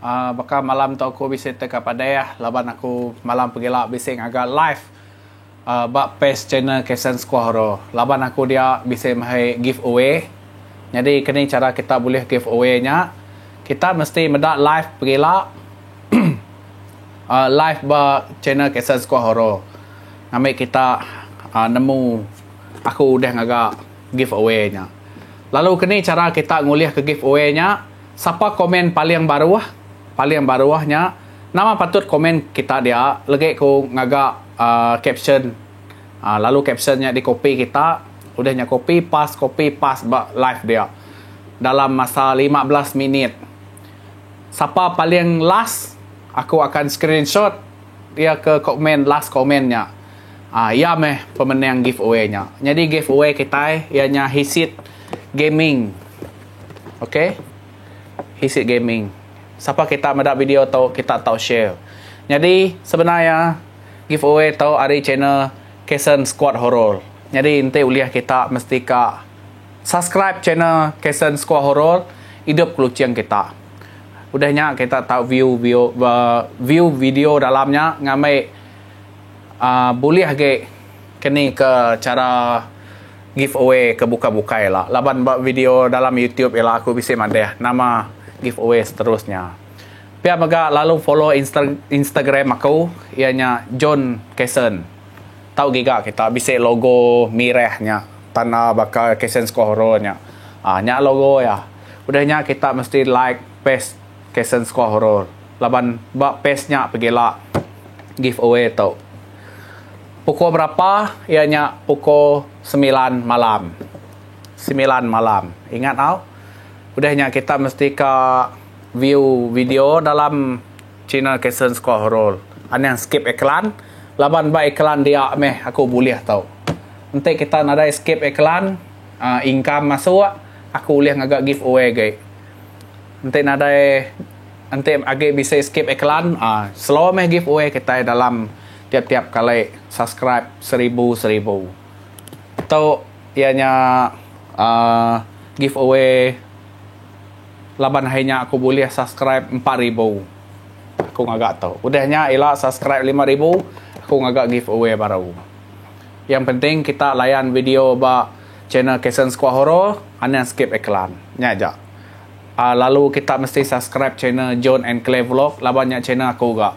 Aaa baka malam tu aku bisi teka padeh laban aku malam pegila bisi ngaga live aaa ba page channel Kasen Squaw tu laban aku dia bisi mahai give away nyadi keni chara kita bulih give away nya kita mesti meda live pegila aaa live ba channel Kasen Squaw tu ngambi kita aaa nemu aku udah ngaga give away nya lalu keni chara kita ngulih ke give away nya. Sapa komen paling baruh? Paling baruh nya nama patut komen kita dia legi ku ngaga uhh caption uhh lalu caption nya di copy kita udah nya copy pas copy pas ba live dia dalam masa lima belas minit. Sapa paling last aku akan screenshot dia ke komen last komen nya uhh iya meh pemenang giveaway nya. Nyadi giveaway kitai iya nya Hisit Gaming. Okay. Hisik gaming. Sapa kita meda video tu kita tau share. Nyadi sebenar iya giveaway tu ari channel Kason Squad Horror. Nyadi enti ulih kita mesti ka subscribe channel Kason Squad Horror idup keluching kita. Udah nya kita tau view view uh, view video dalam nya ngambi uh, bulih agi keni ke cara Give away ke buka bukai ila laban ba video dalam youtube ila aku bisi madah nama give away seterusnya. Pia mega lalu follow insta instagram aku iya nya John Kason. Tau giga kita bisi logo mirah nya tan a baka Kason Squahoro nya. Ah nya logo iya. Udah nya kita mesti like page Kason Squahoro laban ba page nya pegila give away tu. Pukul berapa? Iya nya pukul semilan malam. Semilan malam. Ingat tau. Udah nya kita mesti ka view video dalam channel Kason Score Horror. Anang skip iklan laban ba iklan dia meh aku bulih tu. Enti kita nadai skip iklan, uhh income masuk, aku ulih ngaga giveaway agi. Enti nadai enti agi bisi skip iklan, uhh slow meh giveaway kitai dalam. Tiap tiap kali subscribe seribu seribu tu iya nya giveaway laban hari nya aku bulih subscribe empat ribu aku ngaga tu udah nya ila subscribe lima ribu aku ngaga giveaway baru yang penting kita layan video ba channel Kason Squad Horror anang skip iklan nya ja lalu kita mesti subscribe channel John and Claire Vlog laban nya channel aku ga.